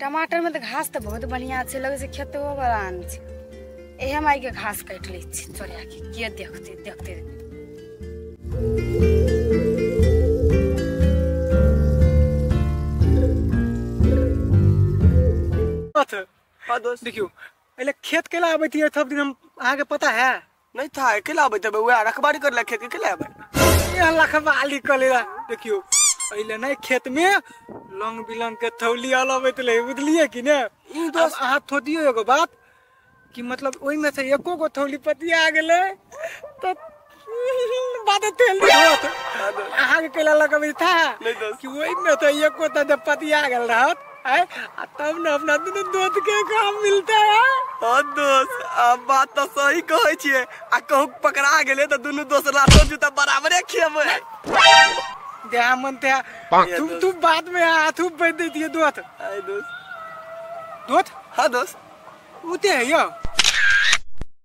टमाटर में तो घास तो बहुत बढ़िया छे लगे से खेतो वाला आन छे एहे माई के घास काट ले छी चोरिया के के देखते देखते अथ हाँ दोस्त देखियो पहले खेत के ला आबे थी थप दिन हम अहाँ के पता है नहीं था अकेला आबे तबे वह रखबारी कर खेत के अकेला आबे ये लखबाली कलेला देखियो पहले नहीं खेत में लंग बिलंग के थौली आल आबे तले बुझलिए कि ने ई दोस्त अहाँ थोदियो एगो बात कि मतलब ओई में से एको गो थौली पतिया आ गेले तो बात तेल होत अहाँ के केला लगबे था नहीं दोस्त कि ओई में तो एको त पतिया गेल रहत है आ तब ने अपना दुनू दोस्त के काम मिलता है हाँ दोस्त अब बात तो सही कहे छिए आ कहू पकड़ा गेले तो दुनू दोस्त लातो जूता बराबरे खेबे देहा मन ते तुम तुम बाद में हाथ उप बैठ देती है दोस्त आय दोस्त दोस्त हाँ दोस्त उते है यो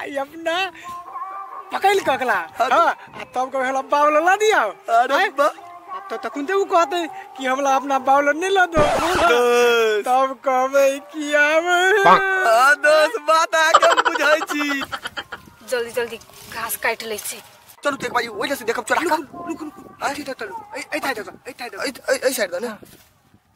आई अपना पकड़ के अगला हाँ, आ तब कहे हमरा बावला ला दिया अरे आय, बा अब तो तकुन ते उ कहते कि हमरा अपना बावला नहीं ला दो दोस्त तब कहबे कि आब हाँ, दोस्त बात आके हम बुझै छी जल्दी जल्दी घास काटि लै छी चलू तऽ एक बारी ओहि से देखब चोरा रुक रुक रुक ऐ ठाइ दऽ ऐ ठाइ दऽ ऐ साइड दऽ ने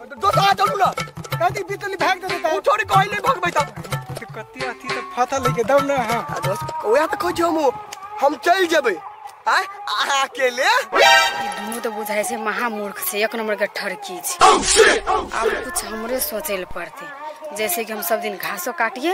दोसरा चलू ना कथी बितली भाग दे देता उठो रे कहले भगबै त तो कथी अथी तो फता लेके दम ना हां आ दोस्त ओया त खोजो हम हम चल जेबै आय अहाँ अकेले ई दुनू तऽ बुझाइ छै महामूर्ख छै एक नंबर के ठरकी छै आब कुछ हमरे सोचे लए पड़ते जैसे कि हम सब दिन घासो काटिए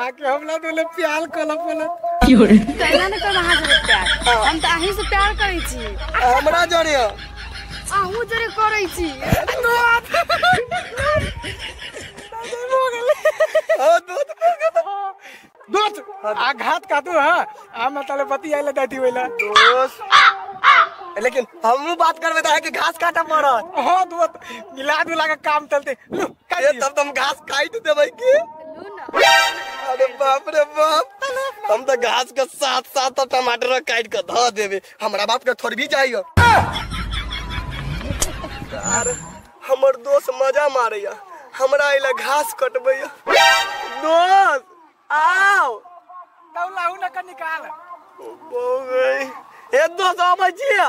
आके हमला तो ले प्यार कल पले कहना ने कोई हाथ से प्यार हम तो अहीं से प्यार करै छी हमरा जरे अहू जरे करै छी दोस्त आघात का तू हां आ मतले बती आइले दादी होइला दोस्त लेकिन हमू बात करबे त आके घास काटा पड़त हां दोस्त मिला दुला के काम चलते लू ए तब तुम घास काट देबै की अरे बाप रे बाप हम तो घास के साथ साथ टमाटर काट के धो देबे हमरा बाप के थोड़ी भी जाइयो यार हमर दोस्त मजा मारैया हमरा अइला घास कटबैया दोस्त आओ तौलाहू न के निकाल बहु गई ए दोस्त आबै छियै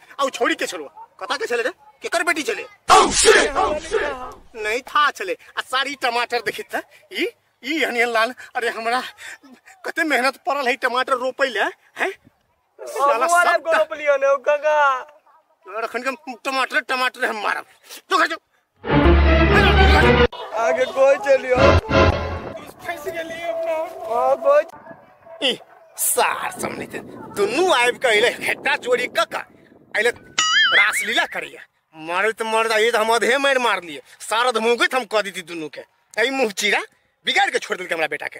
आ उ छौड़ी के छलवा कता के छले रे केकर बेटी छले नहीं था छले आ सारी टमाटर देखित था ई ई हनियन लाल अरे हमरा कते मेहनत पड़ल है टमाटर रोपे ले हैं साला सब टा- रखन के टमाटर टमाटर हम मारब तो घर जो आगे कोई चलियो फंस गेली अपना हां कोई ई सार समझ दे दुनू आइब के अइले हेटा चोरी क का अइले रासलीला करिए मारे तो मर जाइए तो हम अधे मार मार लिए सारा धमोगत हम कह दी दुनू के अई मुंह चीरा बिगाड़ के छोड़ दिल हमरा बेटा के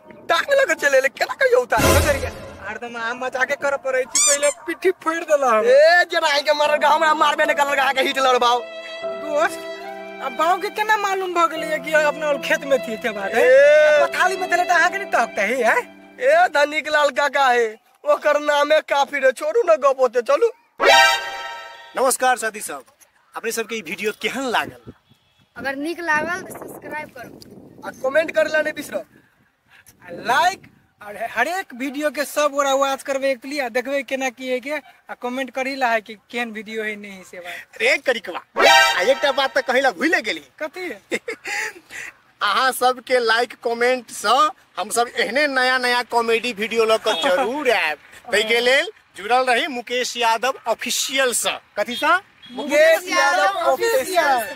टांग लऽ कऽ चलि एलै केना कहियो उतार कऽ करिया आर तऽ हम मजा के करऽ पड़ै छी पहिले पिट्ठी फोड़ि देलक हम। ए जेना आइ के मरल गाँव हमरा मारबे ने करल अहाँ के हिट लड़बाओ दोस्त अब बाव के केना मालूम भऽ गेलै कि अपना और खेत में थी के बात है ए। पथाली में देले तऽ अहाँ के नहीं तकते ही है ए धनिक लाल काका हे ओकर नामे काफी रे छोड़ू ने गप होते चलू नमस्कार साथी सब अपने सबके ई वीडियो केहन लागल अगर नीक लागल तऽ सब्सक्राइब करू आ कमेंट करे ला नहीं बिसरो आ लाइक और हरेक वीडियो के सब गोरा आवाज करबे एक लिए आ देखबे केना की है के आ कमेंट करी ला है कि केहन वीडियो है नहीं है से बात रे करिकवा आ एकटा बात तऽ कहै ला भूले गेली कथी अहाँ सबके लाइक कमेंट सँ हमसब एहने नया नया कॉमेडी वीडियो लऽ कऽ जरूर आयब ताहिके लेल जुड़ल रही मुकेश यादव ऑफिशियल सँ कथी सँ मुकेश यादव ऑफिशियल